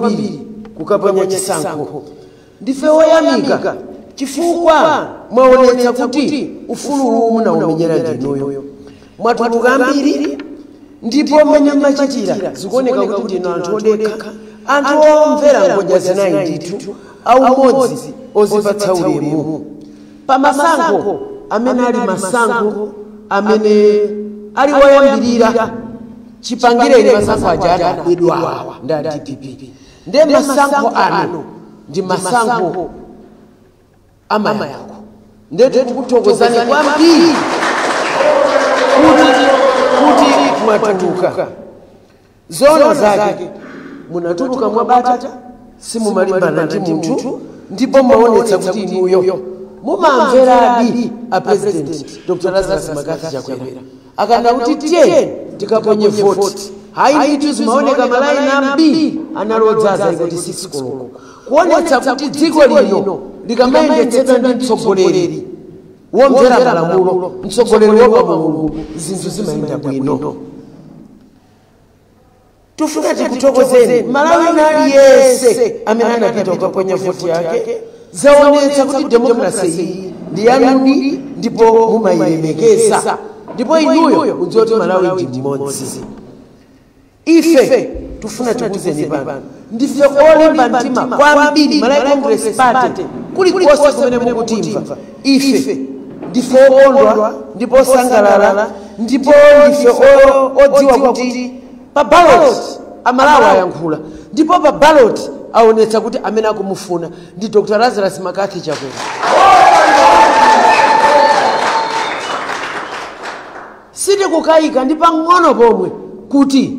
kwambiri kukaponya chisankho ndife oyamika chifukwa mwaonetsa kuti ufulu umene munaumenyera ndinuyo mwatuluka ambiri ndipo mmene mmachitira zikuoneka kuti ndinu anthu odekha anthu omvera ngodya zinayi ndithu aumodzi ozipatsa ulemu pa masankho amene ali masankho amene ali woyambirira chipangireni masankho aja atabedwa ndi a dpp ndiye masankho ano ndi masankho amayankho ndiye tikukuthokozani kwambiri kuti mwatuluka zoona zake munatuluka mwabata simumalimbana ndi munthu ndipo mwaonetsa kuti inuyo mumamveradi a president dr lazarus makathi chakwera akanena kuti tiyeni tikaponye voti hayi ndithu zimaoneka malaini ambiri anali odzaza kuti sikisi koloko kuonetsa kuti dziko lino likamayendetsedwa ndi mtsogoleri womvera malamulo mtsogoleri woopa mulungu zinthu zimayenda bwino tufuna tikuthokozeni mmalawi wina aliyense amene anapita kukaponya voti yake zaonetsa kuti demokrasi iyi ndi yanudi ndipo mumayilemekeza ndipo inuyo mudziwa kuti malawi ndi mmodzi ife tufuna tikuuzeni pano Ndife olimba mtima kwambiri, Malawi Congress Party, kulikonse kumene mukutimva ife ndife okondwa ndipo osangalala ndipo ndife o- odziwa kuti pa ballot amalawi ayankhula ndipo pa ballot aonetsa kuti amene akumufuna ndi dr lazarus makathi chakwera Sitikukayika ndi pang'ono pomwe kuti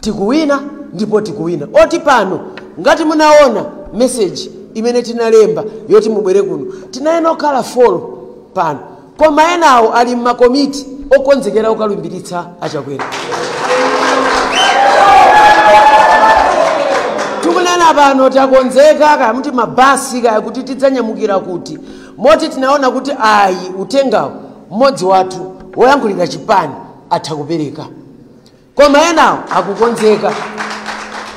tikuwina ndipo tikuwina. Oti pano ngati munawona message imene tinalemba yoti mubwere kuno, tinayenera kukhala four pano koma enawo ali m'ma komiti okonzekera kukalumbiritsa a Chakwera. Tikunena pano takonzeka kaya muti ma bus kaya kuti tidzanyamukira kuti, Moti tinaona kuti ayi uthengawu mmodzi wathu woyankhulira chipani atha kupereka koma enawo akukonzeka.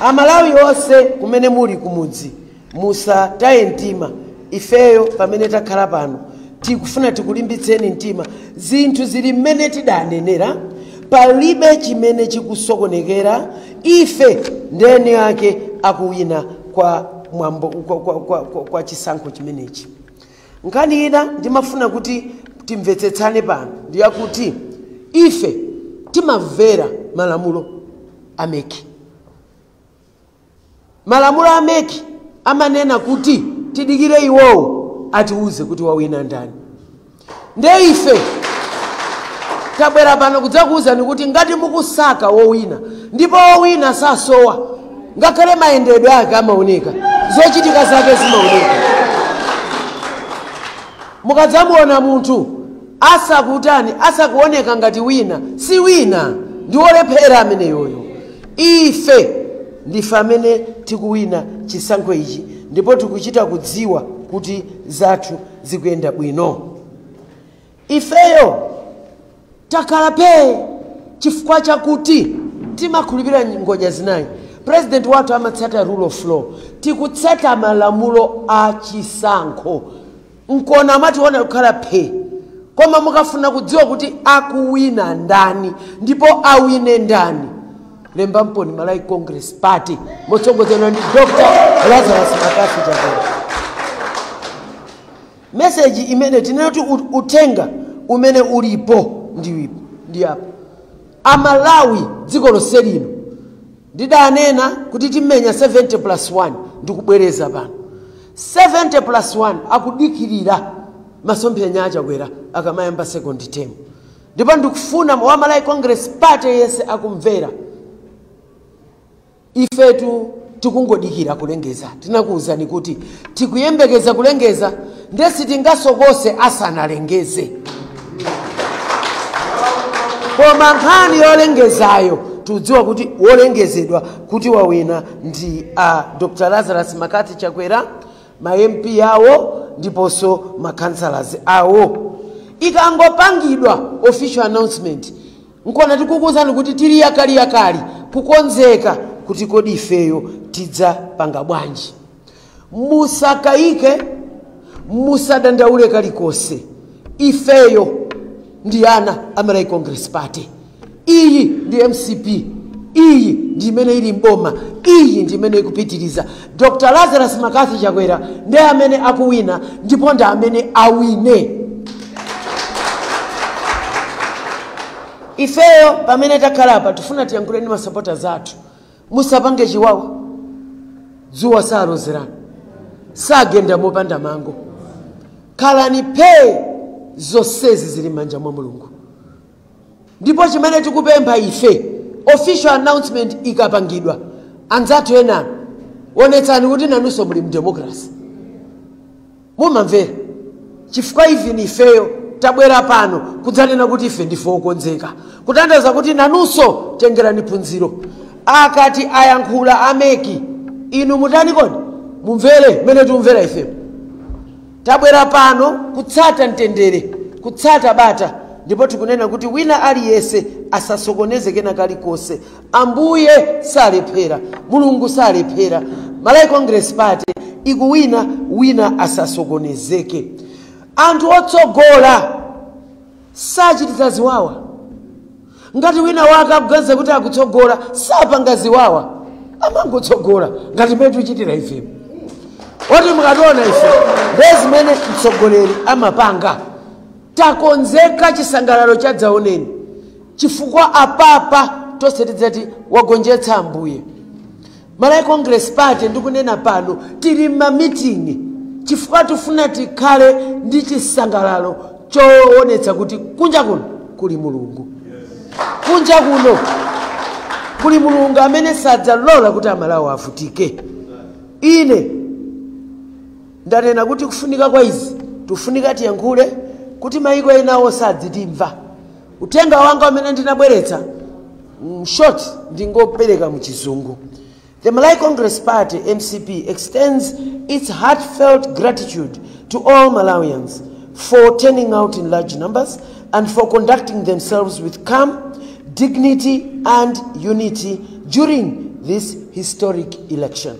Amalawi onse kumene muli kumudzi musataye mtima ifeyo pamene takhala pano tikufuna tikulimbitseni mtima zinthu zili mmene tidanenera palibe chimene chikusokonekera ife ndi eni ake a kuwina kwa mwambo kwa chisankho chimenechi nkhani ina ndimafuna kuti timvetsetsane pano ndiyakuti ife timamvera malamulo a MEC malamulo a MEC amanena kuti tidikire iwowo atiwuze kuti wawina ndani nde ife tabwera pano kudzakuwuzani kuti ngati mukusaka wowina ndipo wowina sasowa ngakhale mayendedwe ake amaoneka zochitika zake zimaoneka mukadzamuona munthu asakutani asakuoneka ngati wina si wina ndi wolephera ameneyoyo ife ndife amene tikuwina chisankho ichi ndipo tikuchita kudziwa kuti zathu zikuyenda bwino ifeyo takhala pee chifukwa chakuti timakhulupirira ngodya zinayi president wathu amatsata rule of law tikutsata malamulo a chisankho nkuona mwationa kukhala pee koma mukafuna kudziwa kuti akuwina ndani ndipo awine ndani lemba mpoone malawi congress party motsogozedwa ndi dr lazarus McCarthy chakwera meseji imene tinenati uthenga umene ulipo ndi apo amalawi dziko lonse lino ndidanena kuti timenya 70 plus 1 ndikubwereza pano 70 plus 1 akudikirira masomphenya achakwera akamayamba second term ndipo ndikufuna wa Malawi Congress Party yense akumvera ifetu tikungodikira kulengeza tinakuwuzani kuti tikuyembekeza kulengeza nde sitingasokose asanalengeze koma nkhani yolengezayo tikudziwa kuti wolengezedwa kuti wawina ndi a dr lazarus McCarthy chakwera ma MP awo ndiponso ma councillors awo ikangopangidwa official announcement nkona tikukuwuzani kuti tili yakaliyakali kukonzeka kuti kodi ifeyo tidzapanga bwanji musakayike musadandaule kalikonse ifeyo ndi ana a Malawi Congress Party iyi ndi mcp iyi ndi imene ili mboma iyi ndi imene ikupitiriza dr lazarus McCarthy chakwera ndi amene akuwina ndipo ndi amene awine ifeyo pamene takhala apa tifuna tiyankhule ndi masapotazi athu musapange chiwawa dzuwa salozerana sagenda mopanda mango khalani pee zonsezi zili m'manja mwa mulungu Ndipo chimene tikupempha ife, official announcement ikapangidwa, anzathu ena, onetsani kuti nanunso muli mdemocracy. Mumamvera? Chifukwa even ifeyo tabwera pano kudzanena kuti ife ndife okonzeka. Kutanthauza kuti nanunso tengerani phunziro. Akati ayankhula a mec, inu mutani kodi? Mumvere mmene tikumvera ifemu. Tabwera pano kutsata mtendere, kutsata bata, ndipo tikunena kuti wina aliyense asasokoneze kena kalikonse. Ambuye salephera, Mulungu salephera. Malawi Congress Party ikuwina, wina asasokonezeke. Anthu otsogola sachititsa ziwawa. Ngati wina wake akuganiza kuti akutsogola, sapanga ziwawa, amangotsogola ngati mmene tichitira ife. Oti mukationa ife ndiye zimene mtsogoleri amapanga. Takonzeka chisangalalo chadzaoneni chifukwa apapa tonse tidzati wagonjetsa Ambuye. Malawi Congress Party ndikunena pano tili mma meeting chifukwa tifuna tikhale ndi chisangalalo choonetsa kuti kunja kuno kuli Mulungu. Kunja kuno kuli Mulungu amene sadzalola kuti Amalawi avutike. Ine ndanena kuti kufunika kwa izi tifunika tiyankhule kuti maiko enawo sadzitimva. Uthenga wanga umene ndinabweretsa mm, short ndingopereka mu chizungu. The Malawi Congress Party MCP extends its heartfelt gratitude to all Malawians for turning out in large numbers and for conducting themselves with calm, dignity and unity during this historic election.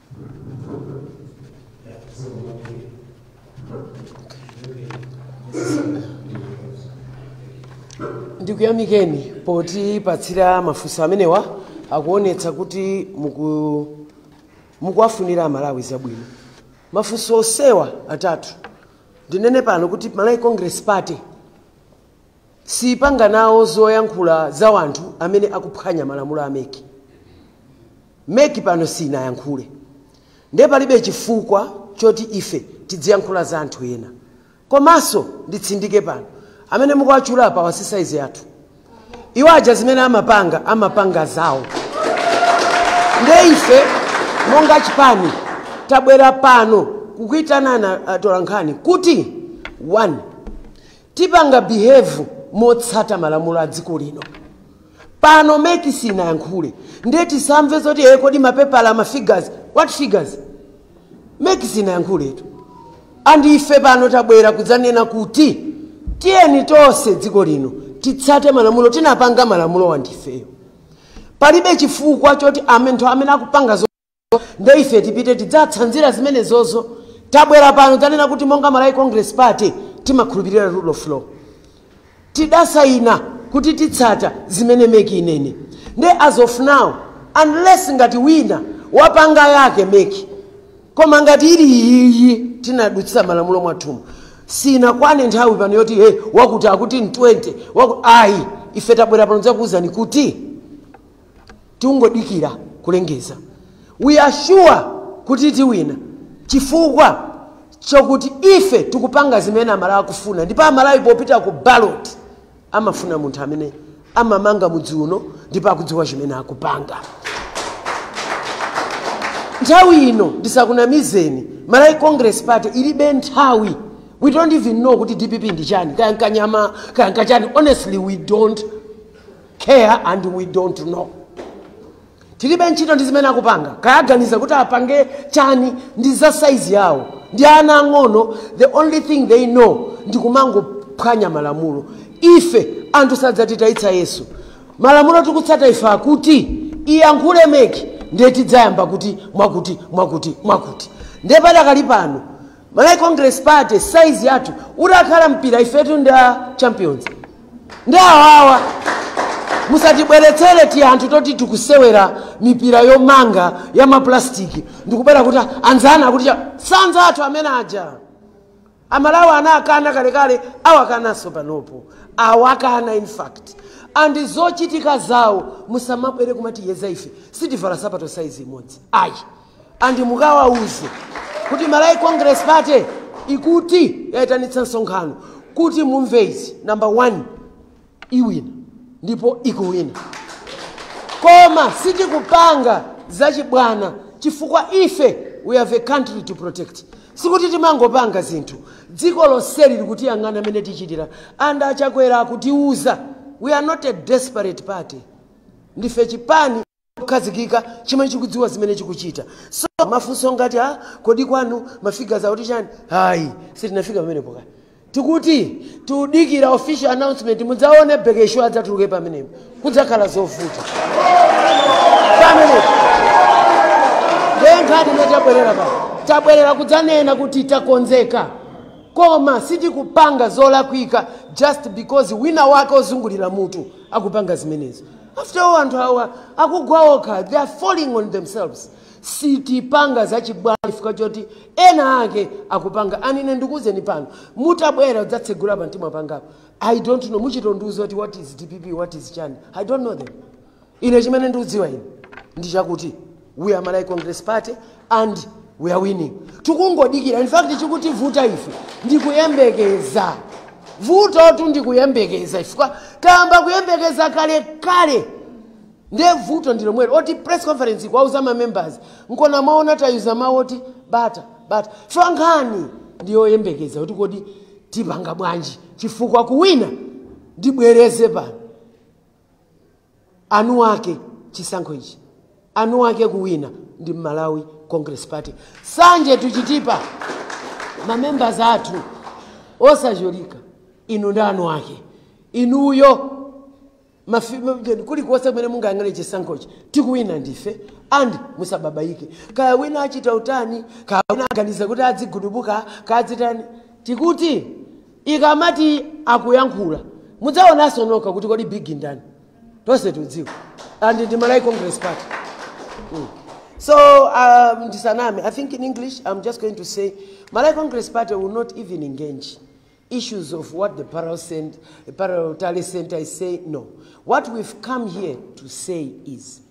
ndikuyamikeni potipatsira mafunso amenewa akuonetsa kuti mukuwafunira Malawi zabwino mafunso osewa atatu ndinene pano kuti malawi congress party siipanga nawo zoyankhula za wanthu amene akuphwanya malamulo a mec. Mec pano siinayankhule nde palibe chifukwa choti ife tidziyankhula za anthu ena. Komaso nditsindike pano amene mukuwatchula apawa si size yathu. Iwo aja zimene amapanga amapanga zawo nde ife monga chipani tabwera pano kukuitanani atolankhani kuti 1. tipanga behave motsata malamulo a dziko lino pano mec sinayankhule ndiye tisamve zoti ee kodi mapepala ma figures what figures mec sinayankhuletu and ife pano tabwera kudzanena kuti tiyeni tonse dziko lino titsate malamulo tinapanga malamulowa ndifeyo palibe chifukwa choti amene anthu amene akupanga zo- nde ife tipite tidzatsanzire zimenezozo tabwera pano tanena kuti monga malawi congress party timakhulupirira rule of law tidasayina kuti titsata zimene MEC inene nde as of now unless ngati wina wapanga yake MEC koma ngati ili iyiyi tinadutsira malamulo mwathumu sinakwane nthawi pano yoti hey, wakuti akuti ni 20 waku, ayi ife tabwera pano kudzakuwuzani kuti tikungodikira kulengeza we are sure kuti tiwina chifukwa chokuti ife tikupanga zimene amalawi akufuna ndipo amalawi popita ku ballot amafuna munthu amene amamanga mudzi uno ndipo akudziwa chimene akupanga nthawi ino ndisakunamizeni malawi congress party ilibe nthawi we don't even know kuti dpp ndi chani kaya nkanyama kaya nkachani honestly we don't care and we don't know tilibe ntchito ndi zimene akupanga kaya aganiza kuti apange chani ndi za saizi yawo ndi ana ang'ono the only thing they know ndi kumangophwanya malamulo ife anthu sadzatitayitsa yesu malamulo tikutsata ife akuti iyankhule MEC ndiye tidzayamba kuti mwakuti mwakuti mwakuti ndiye padakali pano Malawi Congress Party size yathu utakhala mpira ifetu ndi a champions ndi awawa musatibweretsere tianthu toti tikusewera mipira yomanga ya mapulastiki ndikubwera kuti anzanu akuti cha- si anzathu amene aja amalawi anakana kalekale awakanaso panopo awakana in fact and zochitika zawo musamabwere kumatiyeza ife sitivala sapato saizi imodzi ayi and mukawauze kuti Malawi Congress Party ikuti yaitanitsa msonkhano kuti mumve izi number one iwina ndipo ikuwina koma sitikupanga zachibwana chifukwa ife we have a country to protect sikuti timangopanga zinthu dziko lonseli likutiyang'ana mmene tichitira and achakwera akutiuza we are not a desperate party ndife chipani chokhazikika chimene chikudziwa zimene chikuchita so mafunso ngati kodi kwanu mwafika zakuti chani hayi sitinafika pamenepo kale tikuti tikudikira official announcement mudzaone bekesho adzatuluke pamenepo kudzakhala zovuta pamenepo ndiye nkhani imene tabwerera pa tabwerera kudzanena kuti takonzeka koma sitikupanga zolakwika just because wina wake ozungulira mutu akupanga zimenezo After all anthu awa akugwa okha, they are falling on themselves. Sitipanga zachibwana chifukwa choti ena ake akupanga. And ine ndikuuzeni pano, mutabwera kudzatsegula pamtima pangapo. I don't know, muchite ondiuza kuti what is DPP, what is chani. I don't know them. Ine chimene ndikudziwa ine ndi chakuti we are Malawi Congress Party and we are winning. Tikungodikira, in fact chikutivuta ife ndikuyembekeza vuto tu ndikuyembekeza chifukwa tayamba kuyembekeza kale kale ndiye vuto ndi lomwelo loti press conference kuwauza ma members nkona mwaona tawauza mawu oti bata bata chifukwa nkhani ndiyoyembekeza kuti kodi tipanga bwanji chifukwa kuwina ndibwereze pano eni ake chisankho ichi eni ake kuwina ndi Malawi Congress Party sanje sikutipha mamembers athu osatchulika inu ndi eni ake inuyo mafi- ma- kulikonse kumene mungayang'ane chisankhochi tikuwina ndife and musabalalike kaya wina achita utani kaya wina aganiza kuti adzigudubuka kaya adzitani tikuti ikamati akuyankhula mudzaonanso nokha kuti kodi big ndani tonse tudziwa and ndi malawi congress party mm. so um, ndisaname i think in english i'm just going to say malawi congress party will not even engage issues of what the parallel, cent- parallel tally center is saying no what we've come here to say is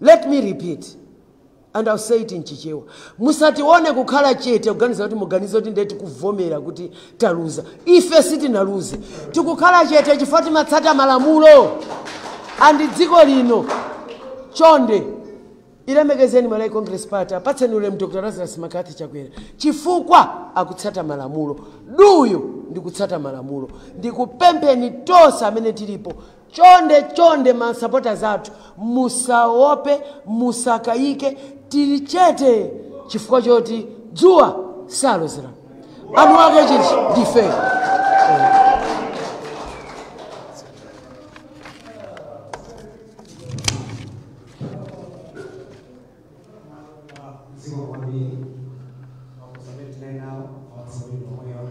Let me repeat and I'll say it in Chichewa, musatione kukhala chete kuganiza kuti muganize kuti ndiye tikuvomera kuti taluza. Ife sitinaluze. Tikukhala chete chifukwa timatsata malamulo a m'dziko lino. Chonde ilemekezeni Malawi Congress Party, apatseni ulemu Dr. Lazarus McCarthy Chakwera chifukwa akutsata malamulo. Duu ndikutsata malamulo. Ndikupempheni tonse amene tilipo Chonde chonde ma supporters athu musaope musakayike tili chete chifukwa choti dzuwa salozera eni ake chiti ndife Zikomo kwambiri mafunso amene tinali nawo mafunso amene omwewa